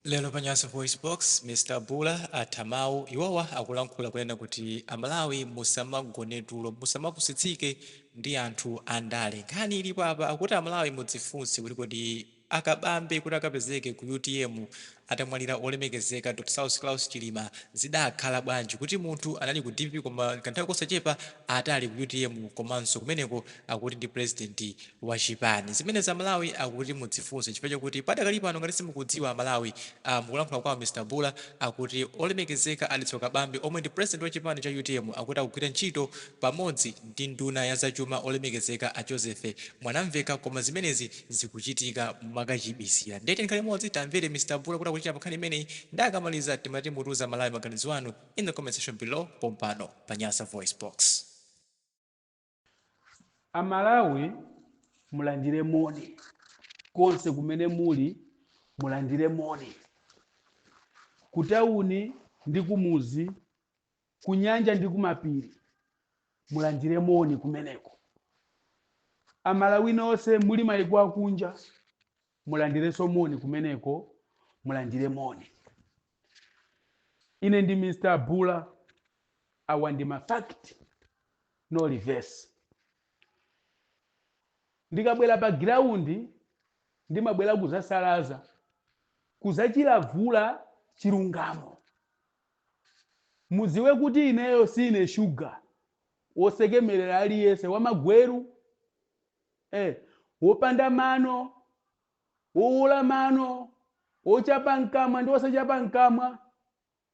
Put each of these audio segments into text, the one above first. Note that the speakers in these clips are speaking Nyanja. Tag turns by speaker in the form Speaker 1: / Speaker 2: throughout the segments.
Speaker 1: Lero pa Nyasa VoiceBox, Mr Bula atha mawu. Iwowa akulankhula kunena kuti Amalawi musamagone tulo, musamapusitsike ndi anthu andale. Nkhani ilipo apa akuti Amalawi mudzifunse kuti kodi a Kabambe kuti akapezeke ku utm atamwalira Wolemekezeka Dr Saulos Klaus Chilima zidakhala bwanji, kuti munthu anali ku dpp koma kanthawi kosachepa atali ku utm komanso kumeneko akuti ndi president wa chipani zimenezi amalawi akuti mudzifunse chifukwa chakuti padakali pano ngati simukudziwa amalawi uh, mukulankhula kwawo mr bula akuti olemekezeka a Dalitso Kabambe omwe ndi president wa chipani cha utm akuti akugwira ntchito pamodzi ndi nduna ya zachuma olemekezeka a joseph mwanamveka koma zimenezi zikuchitika mwakachibisira ndiye tikhale limodzi timvere mr bula kuti akuti chani pankhani imeneyi ndi akamaliza timati mutiuze amalawi maganizo anu in the comment section below pompano pa nyasa voice box
Speaker 2: Amalawi mulandire moni konse kumene muli mulandire moni kutawuni ndi kumuzi kunyanja ndi kumapiri mulandire moni kumeneko amalawi nonse muli maiko akunja mulandirenso moni kumeneko mulandire moni Ine ndi Mr Bula awa ndi ma fact no reverse. Ndikabwera pa ground ndimabwera kuzasalaza kuzachilavula chilungamo. Muziwe kuti ineyo siine sugar wosekemerera aliyense wamagweru eh wopanda mano Wowuula mano, wochapa mkamwa ndi wosachapa mkamwa,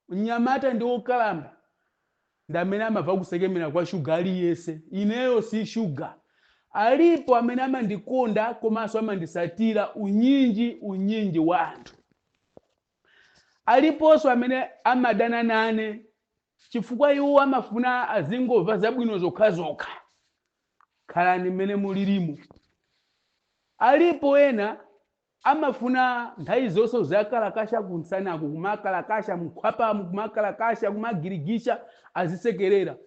Speaker 2: mnyamata ndi wokalamba, ndi amene amamva kusekemera kwa shuga aliyense. Ineyo si shuga. Alipo amene amandikonda komanso amandisatira unyinji unyinji wa anthu. Aliponso amene amadana nane. Chifukwa iwo amafuna azingomva zabwino zokhazokha. Khalani mmene mulirimu. Alipo ena amafuna nthawi zonse uziwakalakasha kumsanaku kumakalakasha mkhwapamu kumakalakasha kumagirigisha azisekerera.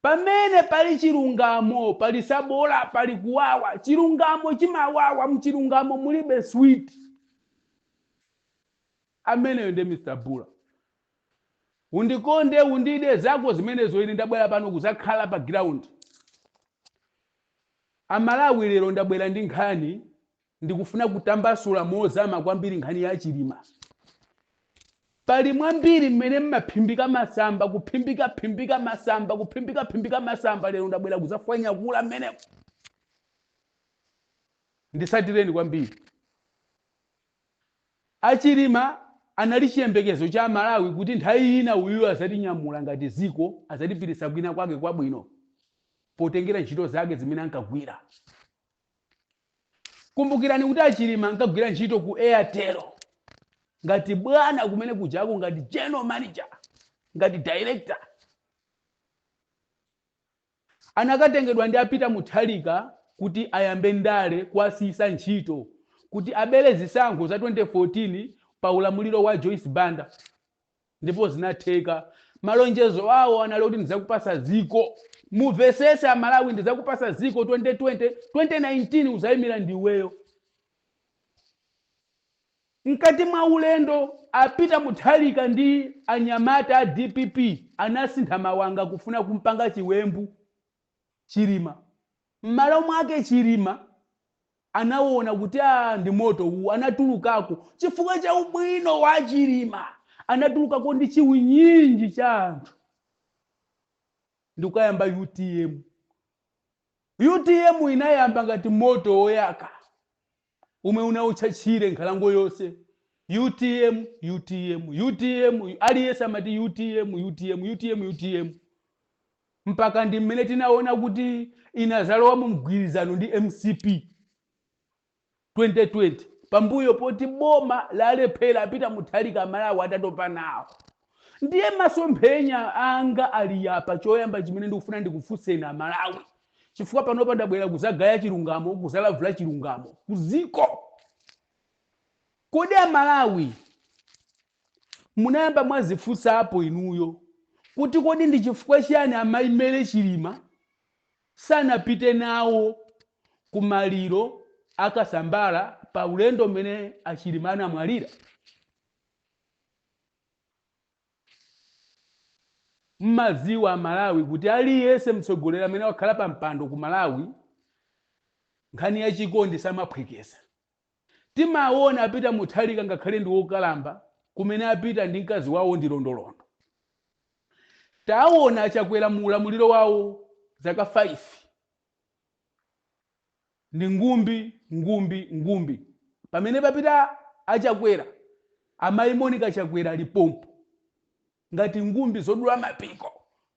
Speaker 2: Pamene pali chilungamo pali sabola pali kuwawa. Chilungamo chimawawa mchilungamo mulibe sweet. Ameneyo nde Mr Bula. Undikonde, undide, zako zimenezo ine ndabwera pano kuzakhala pa ground. A Malawi lero ndabwera ndi nkhani ndikufuna kutambasula mozama kwambiri nkhani ya Chilima. Pali mwambiri mmenemo mmaphimbika masamba kuphimbika phimbika masamba kuphimbika phimbika masamba lero ndabwera kuzafwanyakula mmenemo ndisatireni kwambiri. A Chilima anali chiyembekezo cha Amalawi kuti nthawi ina uyuyo azatinyamula ngati dziko, azatipititsa kwina kwake kwabwino potengera ntchito zake zimene ankagwira. Kumbukirani kuti a Chilima ankagwira ntchito ku Airtel ngati bwana kumene kujako ngati general manager, ngati director. Anakatengedwa ndi a Peter Mutharika kuti ayambe ndale kuwasiyisa ntchito kuti abele zisankho za 2014 pa ulamuliro wa Joyce Banda ndipo zinatheka. Malonjezo awo anali kuti ndizakupasa ziko. Muvesese a Malawi ndizakupasa ziko 2020, 2019 uzayimila ndiweyo. Mkati mwa ulendo, a Peter Mutharika ndi anyamata a dpp anasintha mawanga kufuna kumpanga chiwembu Chilima. M'malo mwake Chilima anawona kuti aah ndi moto uwu, anatulukako. Chifukwa cha ubwino wa Chilima, anatulukako ndi chiwunyinji cha anthu ndikukayamba utm. Utm inayamba ngati moto woyaka. omwe unaotcha tchire nkhalango yonse. Utm, utm, utm, aliyense amati utm, utm, utm, utm. Mpaka ndi mmene tinaona kuti inazalowa mu mgwirizano ndi mcp 2020 pambuyo poti boma lalephera a Peter Mutharika amalawi atatopa nawo. Ndiye masomphenya anga ali apa, choyamba chimene ndikufuna ndikufunseni Amalawi, chifukwa panopa ndabwera kuzagaya chilungamo, kuzalavula chilungamo ku dziko. Kodi Amalawi munayamba mwazifunsapo inuyo kuti kodi ndi chifukwa chiyani amayi Mary Chilima sanapite nawo ku maliro a Kasambara pa ulendo umene a Chilima anamwalira? Mmaziwa amalawi kuti aliyese mtsogoleri amene wakhala pa mpando ku malawi nkhani ya chikondi samaphwekesa. Timawona a Peter Mutharika ngakhale ndi wokalamba kumene apita ndi mkazi wawo ndi londolondo. Tawona a Chakwera mu ulamuliro wawo zaka 5. Ndi ngumbi, ngumbi, ngumbi. Pamene papita a Chakwera, amayi Monica Chakwera ali pompo ngati ngumbi zodula mapiko.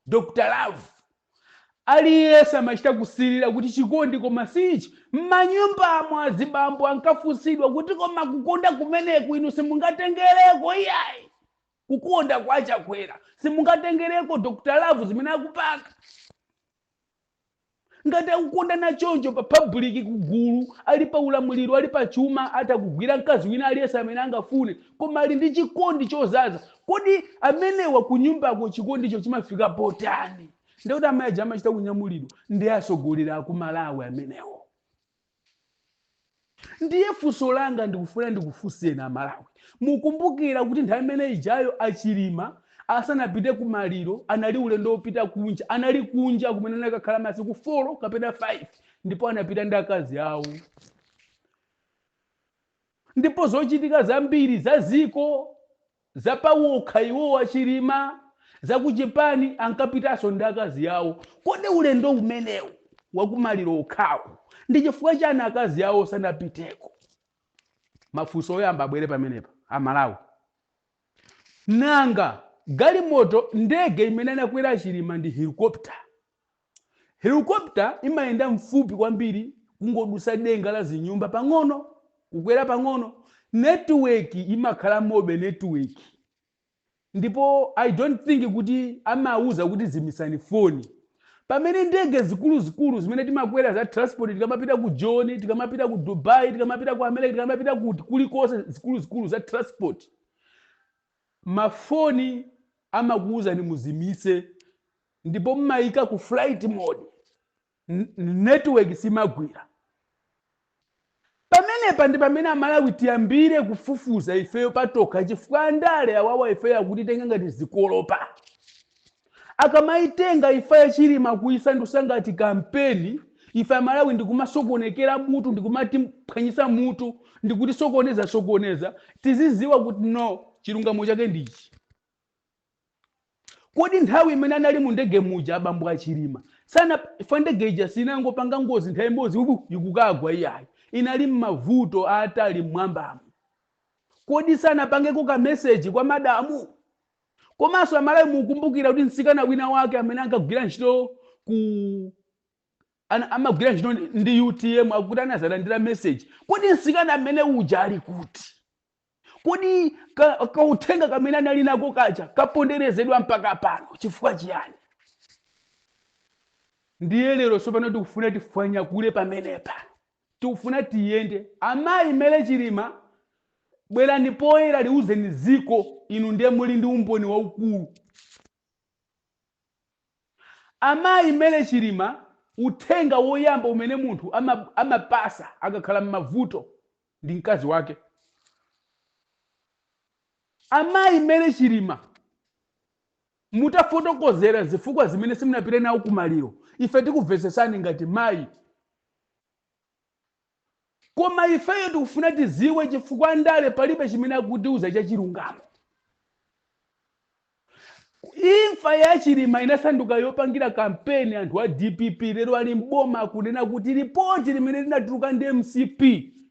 Speaker 2: Dr Love. Aliyense amachita kusilira kuti chikondi koma si ichi. M'manyumbamu azibambo ankafunsidwa kuti koma kukonda kumeneku inu simungatengereko iyayi. Kukonda kwa Chakwera simungatengereko Dr Love zimene akupanga. ngati akukondana choncho pa public kugulu ali pa ulamuliro ali pa chuma atakugwira mkazi wina aliyense amene angafune koma ali ndi chikondi chodzadza kodi amenewa kunyumbako chikondicho chimafika potani ndikuti amayi aja amachita kulamulidwa ndi atsogoleri akumalawi amenewo Ndiye funso langa ndikufuna ndikufunseni a Malawi, mukumbukira kuti nthawi imene ijayo a Chilima asanapite ku maliro anali ulendo wopita kunja, anali kunja kumene anakakhala masiku folo kapena fayifi ndipo anapita ndi akazi awo. Ndipo zochitika zambiri za dziko, Za pawokha iwowo a Chilima za ku chipani ankapitanso ndi akazi awo. Kodi ulendo umenewu wa ku maliro okhawu ndi chifukwa chani akazi awo sanapiteko? Mafunso oyamba abwere pamenepa a Malawi. Nanga galimoto, ndege imene anakwera a Chilima ndi helicopter? Helicopter imayenda mfupi kwambiri kungodusa denga la zinyumba pang'ono kukwera pang'ono network imakhalamobe network ndipo I don't think kuti amawuza kuti zimitsani foni pamene ndege zikuluzikulu zimene timakwera za transport tikamapita ku Joni tikamapita ku Dubai tikamapita ku America tikamapita kuti kulikonse zikuluzikulu za transport mafoni amakuwuzani muzimitse ndipo mmaika ku flight mode n- n- network simagwira pamenepa ndi pamene amalawi tiyambire kufufuza ifeyo patokha chifukwa andale awawa ifeyo akutitenga ngati zikolopa akamaitenga imfa ya Chilima kuisandutsa ngati kampeni ife amalawi ndikumasokonekera mutu ndikumatiphwanyitsa mutu ndikutisokoneza sokoneza tizidziwa kuti no chilungamo chake ndichi Kodi nthawi imene anali mu ndege muja abambo a Chilima sana chifukwa ndege ija sinangopanga ngozi nthawi imodzi wubu ikukagwa iyayi inali mmavuto aatali mmwambamu kodi sanapangeko ka message kwa madamu? Komanso amalawi mukumbukira kuti mtsikana wina wake amene ankagwira ntchito ku ana, amagwira ntchito ndi- ndi utm akuti anadzalandira message kodi mtsikana amene uja ali kuti? Kodi ka, kauthenga kamene anali nako kaja kaponderezedwa mpaka pano chifukwa chiyani? Ndiye lero tsopano tikufuna tifwanyakule pamenepa, tikufuna tiyende. Amayi Mary Chilima, bwerani poyera liuzeni dziko, inu ndiye muli ndi umboni waukulu. Amayi Mary Chilima, uthenga woyamba umene munthu ama, amapatsa akakhala m'mavuto ndi mkazi wake amayi Mary Chilima mutafotokozera zifukwa zimene simunapite nawo kumaliro ife tikuvesesani ngati mayi koma ifeyo tikufuna tiziwe chifukwa ndale palibe chimene akutiuza chachilungamo Imfa ya Chilima inasanduka yopangira kampeni anthu a dpp lero ali m'boma akunena kuti lipoti limene linatuluka ndi mcp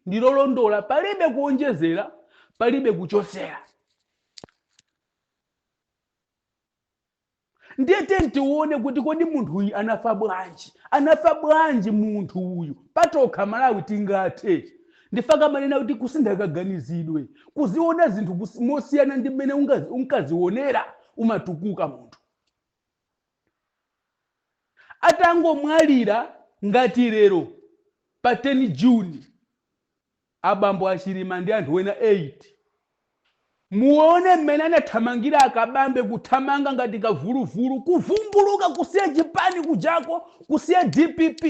Speaker 2: ndi lolondola palibe kuonjezera palibe kuchotsera. Ndiye tiyeni tione kuti kodi munthu uyu anafa bwanji? Anafa bwanji munthu uyu? Patokha Malawi tingathe. Nchifukwa akamanena kuti kusintha kaganizidwe, kuziona zinthu kus- mosiyana ndi mmene ungazi- unkazionera umatukuka munthu atangomwalira ngati lero pa 10 juni abambo achilima ndi anthu ena 8 Muwone mmene anathamangira a Kabambe kuthamanga ngati kavuluvulu, kuvumbuluka kusiya chipani kujako, kusiya dpp,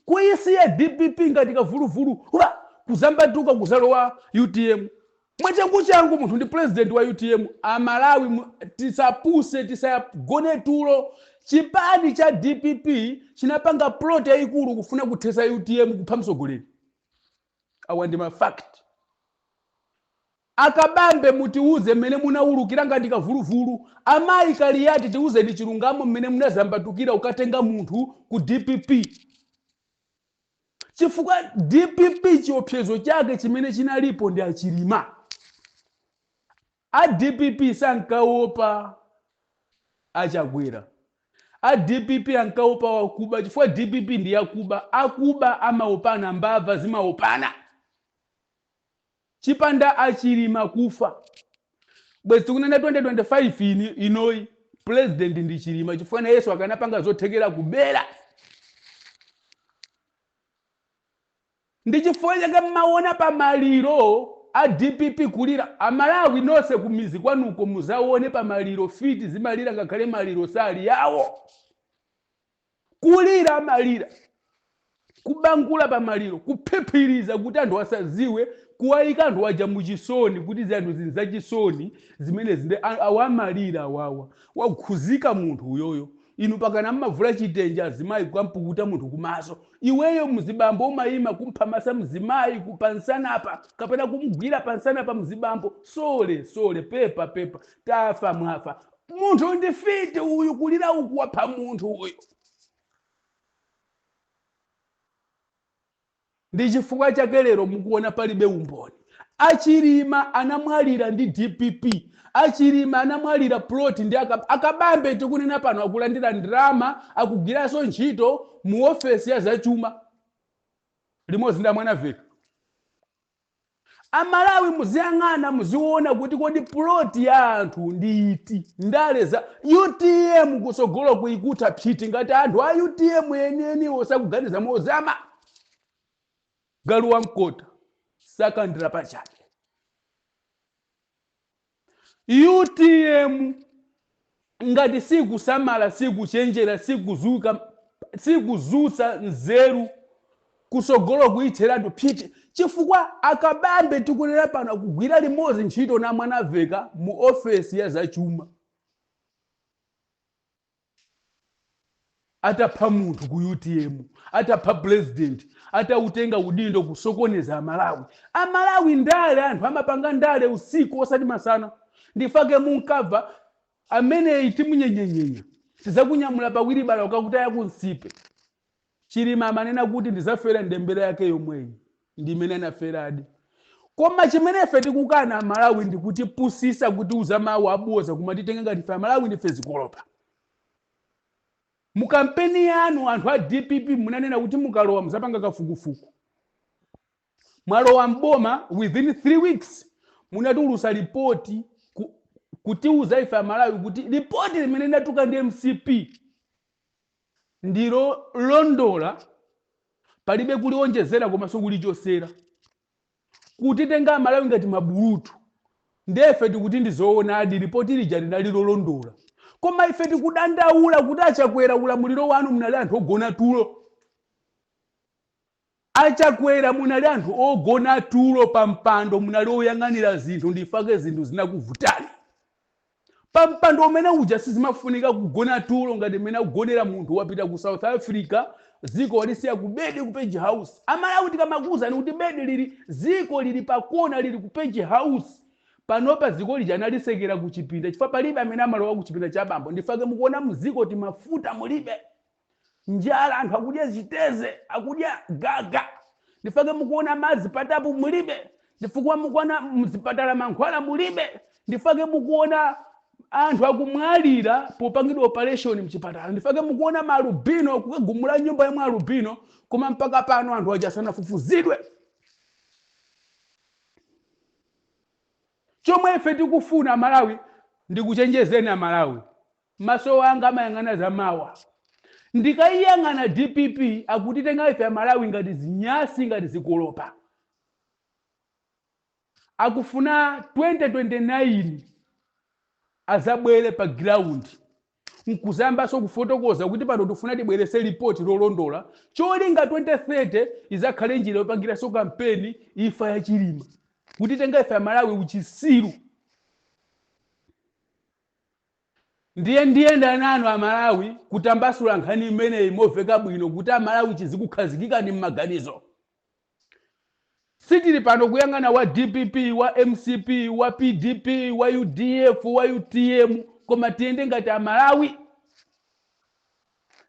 Speaker 2: kuyisiya dpp ngati kavuluvulu hwa! kuzambatuka kuzalowa utm mwachanguchangu munthu ndi president wa utm a Malawi tisapuse, tisagone tulo chipani cha dpp chinapanga plot yayikulu kufuna kuthesa utm kupha mtsogoleri. awa ndi ma fact akabambe mutiwuze mmene munawulukira ngati kavuluvulu amayi kaliyati tiwuzeni chilungamo mmene munazambatukira ukatenga munthu ku dpp chifukwa dpp chiopsezo chake chimene chinalipo ndi achilima A dpp sankaopa a Chakwera. A dpp ankaopa wakuba chifukwa dpp ndi yakuba. Akuba amaopana, mbava zimaopana. Chipanda a Chilima kufa. Bwezi tikunena 2025 inoyi, president ndi Chilima chifukwa nayenso akanapanga zothekera kubera. Ndi chifukwa chake mmaona pa maliro a dpp kulira. A Malawi nonse ku mizi kwanuko muzaone pa maliro fiti zimalira ngakhale maliro sali awo. Kulira amalira, kubangula pa maliro, kuphiphiriza kuti anthu asaziwe, kuwaika anthu aja mu chisoni kuti zinthu izi nzachisoni zimenezi nde awa amalira awawa. Wakhuzika munthu uyoyo. Inu pakana mmavula chitenje azimayi kukampukuta munthu kumaso. Iweyo mzibambo umayima kumphamasa mzimayi ku pamsanapa kapena kumgwira pamsanapa mzibambo sorry sorry pepa pepa tafa mwafa. Munthu ndi fiti uyu kulira uku wapha munthu uyu. Ndi chifukwa chake lero mukuona palibe umboni. A Chilima anamwalira ndi dpp. A Chilima anamwalira plot ndi a a Kabambe tikunena pano akulandira ndalama akugwiranso ntchito mu ofesi ya zachuma limodzi ndi a Mwanamvekha. Amalawi muziyang'ana muziona kuti kodi plot ya anthu ndi iti? Ndale za utm kutsogolo kukutha psiti ngati anthu a utm enieniwo sakuganiza mozama. Galu wa mkota sakandira pachabe. utm ngati sikusamala sikuchenjera sikuzuka sikuzusa nzeru kusogolo kuitheratu phiti chifukwa akabambe tikunena pano akugwira limodzi ntchito na mwanamvekha mu ofesi ya zachuma atapha munthu ku utm atapha president atautenga udindo kusokoneza amalawi amalawi ndale anthu amapanga ndale usiku osati masana ndifake munkava ameneyi timunyenyenyenya tizakunyamula pawiri bala ukakutaya kunsipe Chilima amanena kuti ndizafera ndembela yake yomweyi ndimene anaferadi koma chimene ife tikukana amalawi ndikutipusisa kutiuza mau abodza kumatitenga ngati ife amalawi ndife zikolopa mukampeni yanu anthu a dpp munanena kuti mukalowa muzapanga kafukufuku mwalowa mboma within 3 weeks munatulusa lipoti ku, kutiuza ife amalawi kuti lipoti limene linatuluka ndi mcp ndi lolondola, palibe kulionjezera komanso kulichosera. Kutitenga amalawi ngati mabulutu ndiye ife tikuti ndi zoonadi lipoti lija linali lolondola. Koma ife tikudandaula kuti a Chakwera ulamuliro wanu munali anthu ogona tulo. A Chakwera munali anthu ogona tulo pa mpando munali oyang'anira zinthu ndifake zinthu zinakuvutani pa mpando umene uja sizimafunika kugona tulo ngati mmene akugonera munthu wapita ku South Africa ziko walisiya ku bedi ku state house a Malawi tikamakuuzani kuti bedi lili ziko lili pa kona lili ku state house panopa ziko lija analitsekera ku chipinda chifukwa palibe amene amalowa ku chipinda cha bambo ndifake mukuona mziko timafuta mulibe njala anthu akudya chiteze akudya gaga ndifake mukuona madzi patapu mulibe ndifukwa mukuona mzipatala mankhwala mulibe ndifake mukuona anthu akumwalira popangidwa operation mchipatala ndifake mukuona maalubino kukagumula nyumba ya maalubino koma mpaka pano anthu aja asanafufuzidwe chomwe ife tikufuna amalawi ndikuchenjezeni amalawi Maso anga amayang'ana zamawa. Ndikayiyang'ana dpp akutitenga ife amalawi ngati zinyasi ngati zikolopa. Akufuna 2029 azabwele pa ground nkuzayambaso kufotokoza kuti pano tifuna tibwelese report lolondola cholinga 2030 izakhale njira yopangiraso kampeni imfa ya chilima. Kutitenga ife amalawi uchisiru. Ndiye ndiyenda nanu a Malawi kutambasula nkhani imeneyi moveka bwino kuti a Malawi chizikukhazikikani mmaganizo. Sitili pano kuyang'ana wa dpp, wa mcp, wa pdp, wa udf, wa utm koma tiyende ngati a Malawi.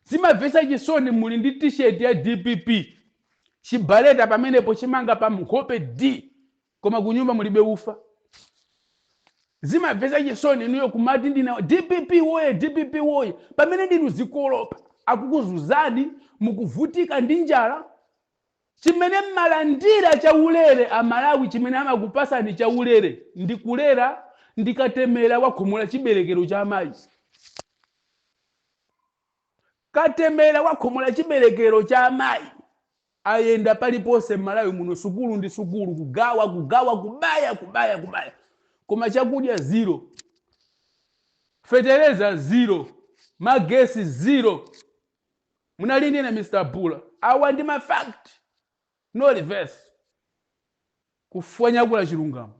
Speaker 2: Zimavesa chisoni muli ndi t-shirt ya dpp chibaleta pamenepo chimanga pa nkhope dii! koma kunyumba mulibe ufa zimavesa chisoni inuyo kumati ndine dpp woye dpp woye pamene ndinu zikolopa akukuzuzani mukuvutika ndi njala chimene mmalandira chaulere amalawi chimene amakupasani chaulere ndi kulera ndi katemera wakhomola chiberekero cha amayi katemera wakhomola chiberekero cha amayi ayenda paliponse mmalawi muno sukulu ndi sukulu kugawa kugawa kubaya kubaya kubaya koma chakudya zero fetereza zero magesi zero munali ndine mr bula awa ndi ma fact no reverse kufwanyakula chilungamo